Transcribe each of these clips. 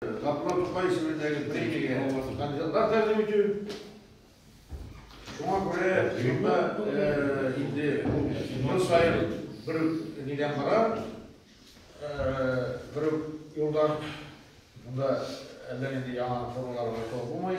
Гапла Тукай исемендәге премиягә кандидатлар тәкъдим итү. Шуңа күрә шунда инде ел саен бер нидән бара, бер юлдан монда әллә нинди яңа формалар булмый.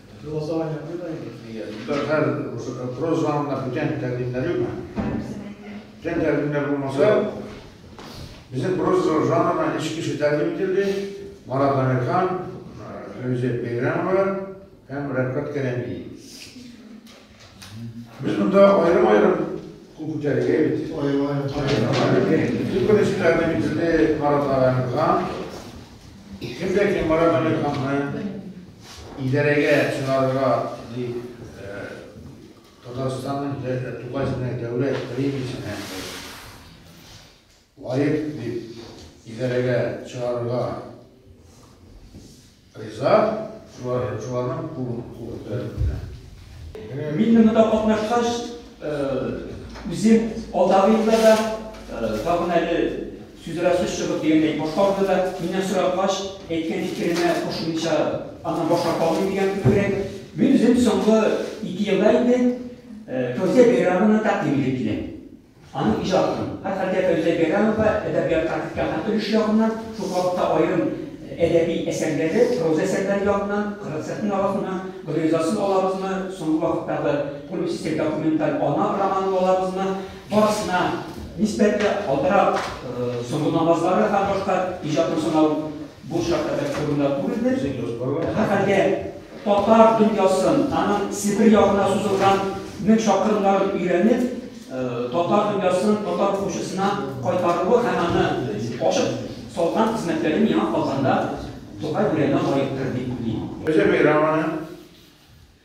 Голосование будет, Илья? Һәр проф залында бүтән тәкъдимнәр юкмы? Бүтән тәкъдимнәр булмаса, безнең проф зал жанрына өч кеше тәкъдим ителде. Марат Әмирхан, Фәүзия Бәйрәмова һәм Рәфкат Кәрәмиев. Без монда аерым-аерым күн күтәрергә бит. Күпересеннәрне битене маратлаганга, кемдә кем маратлаганны идарәгә чыгарырга дип Татарстанның Тукай дәүләт премиясенә Лаек дип идарәгә чыгарырга риза, шуларның кулын күтәреп кенә. Мин дә монда катнашкач, үзем алдагы елларда тагын әле сүз арасы сүз чыгып дигәндәй, башка урында да миннән соралгач, әйткән фикеремә кушылмыйча аннан баш тарта алмыйм дигән кебегрәк. Мин үзем соңгы ике елда инде Фәүзия Бәйрәмовнаны тәкъдим итеп киләм. Аның иҗатын, һәрхәлдә, Фәүзия Бәйрәмова әдәбиятка керткән һәм өлеше ягыннан, шул калыпта аерым әдәби әсәрләре, проза әсәрләре ягыннан кырык сәхнә арасыннан гөлризасын алабызмы, соңгы вакыттагы публицистик документаль Ана романын алабызмы, барысына нисбәтле алдарак Соңгы намазлары һәм башка иҗатын санау, Бу шәһәрләр турында түгелдер. Һәм әле татар дөньясын, аның Себер ягына сузылган мең чакрымнарын өйрәнеп, татар дөньясын татар укучысына кайтаруы һәм аны ачып салган хезмәтләре миңа калганда Тукай бүрәнә лаектыр дип уйлыйм. Зөбәйр аны.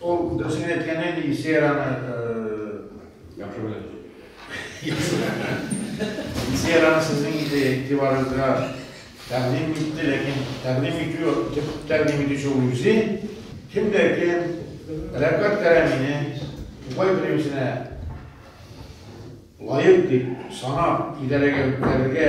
Ул дөресен әйткән инде, Исераны яхшы белә. Исераны сезнең инде игътибарыгызга тәкъдим итте, ләкин тәкъдим итү, төп тәкъдим итүче ул үзе. Кем дә кем Рәфкать Кәрәмине Тукай премиясенә лаек дип санап, идарәгә үткәрергә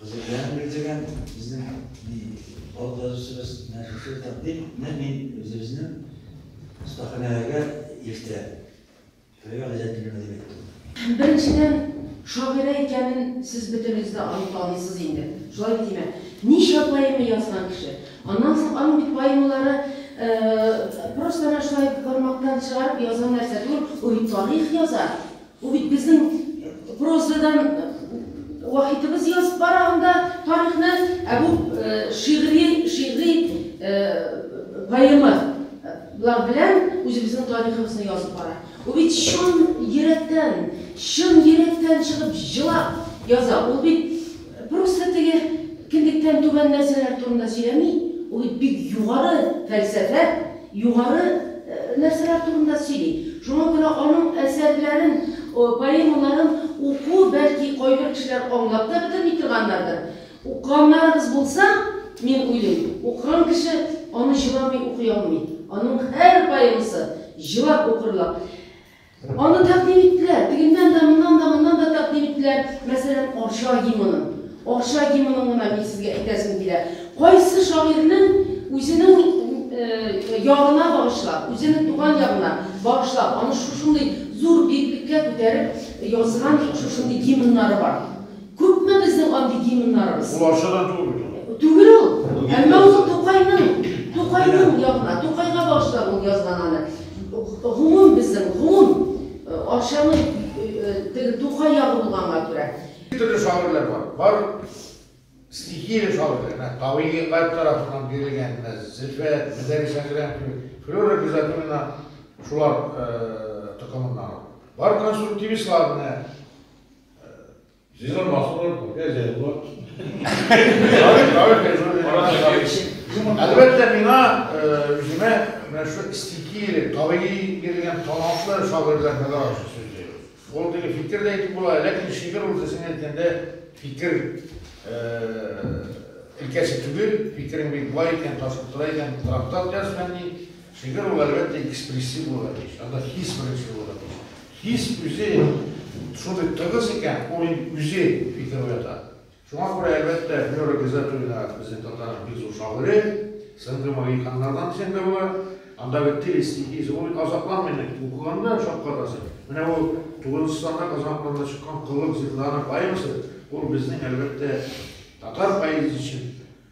Хәзерләр бирдегән безнең халык язучыбыз менә шушы тәкъдим. Менә мин үзебезнең остаханәгә иртә. Шулай газәт бирмә дип әйттем. Беренчедән, шагыйрә икәнен сез бөтенегез дә аныкланыйсыз инде. Шулай бит, димә. Ничә поэма язган кеше. Аннан соң аның бит поэмалары просто әнә шулай бармактан чыгарып язган нәрсә түгел, ул бит тарих яза. Бу бит безнең прозадан вахитыбыз язып бара анда тарихны, ә бу шигъри, шигъри поэма лар белән үзебезнең тарихыбызны язып бара. Ул бит чын йөрәктән, чын йөрәктән чыгып җылап яза. Ул бит Просто теге кендектән түбән нәрсәләр турында сөйләми, ул бит бик югары фәлсәфә, югары нәрсәләр турында сөйли. Шуңа күрә аның әсәрләрен, поэмаларын уку, бәлки, кайбер кешеләр аңлап та бетерми торгандардыр. Укыганнарыгыз булса, мин уйлыйм, укыган кеше аны җыламый укый алмый. Аның һәр поэмасы җылап укырлык. Аны тәкъдим иттеләр. Тегеннән дә, моннан да, моннан да тәкъдим иттеләр. Мәсәлән, Арча гимынын. Арча гимынын гына мин сезгә әйтәсем килә. Кайсы шагыйрьнең үзенең ягына багышлап, үзенең туган ягына багышлап, аны шушындый зур биеклеккә күтәреп язган шушындый гимннары бар. Күпме безнең андый гимннарыбыз? Ул арча да түгел бит ул. Түгел ул. Әмма ул Тукайның, Тукайның ягына, Тукайга багышлап ул язган аны. Гомум безнең, гомум Арчаның теге Тукай ягы булганга күрә. Ике төрле шагыйрьләр бар. Бар стихия шагыйрьләр, менә табигыйгать тарафыннан бирелгән, менә Зөлфәт, Мөдәрис Әкрәм кебек, Флюра Гыйззәтуллина шулар токымыннан ул. Бар конструктивистлар, менә Җыйнар махсулар күп, я җәй була. Әлбәттә, миңа үземә менә шу стихи, табигый бирелгән талантлы шагыйрьләр мәдәр аша сүзли. Ул теге фикер дә әйтеп була, ләкин шигырь ул дисең әйткәндә фикер өлкәсе түгел, фикерең бик бай икән, ташып тора икән, трактат яз фәнни, шигырь ул әлбәттә экспрессив була тиеш, анда хис беренче була тиеш. Хис үзе шундый тыгыз икән, ул инде үзе фикер уята. Шуңа күрә, әлбәттә, Флера Гизатуллина безнең татарның бик зур шагыйре, Сынды магии ханнардан дисәң дә була. Андагы тел стихиясе, ул азапланмый инде, укыганда шаккатасың. Менә ул тугызынчы саннар казанакларында чыккан Коллык зинданэ поэмасы, ул безнең, әлбәттә, татар поэзиясе өчен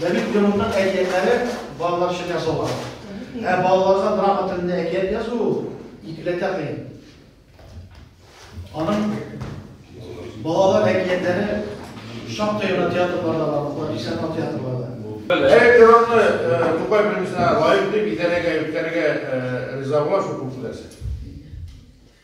Дәвид Грюнның әкиятләре балалар өчен язылган. Ә балаларга драма телендә әкият язу икеләтә кыен. Аның балалар әкиятләре шактый гына театрларда бар, профессионал театрларда. Әгәр Грюнны Тукай премиясенә лаек дип итәләргә, үткәрергә риза була шул күп нәрсә.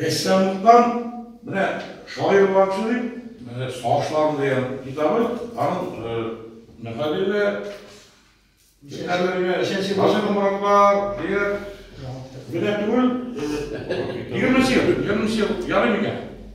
Рәссамлыктан менә шагыйрь булган кеше дип, менә Сагышларым дигән китабы, аның мөхәррире Әмергә Гаҗәп Моратлар дигән генә түгел, егерме ел, егерме ел ярый микән?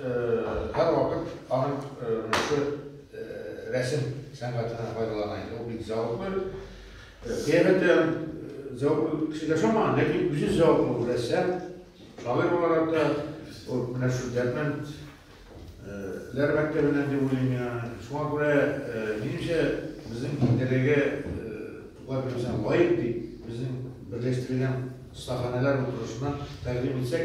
Һәрвакыт аның монысы рәсем сәнгатеннән файдалана иде. Ул бик зәвыклы. Кыямәттә зәвыклы кеше яшамаган, ләкин үзе зәвыклы рәссам. Шагыйрь буларак та ул менә шул дәрмән ләр мәктәбеннән дип уйлыйм мин аны. Шуңа күрә, минемчә, безнең дәрәгә туган кешесенә лаек дип, безнең берләштергән остаханәләр утырышына тәкъдим итсәк,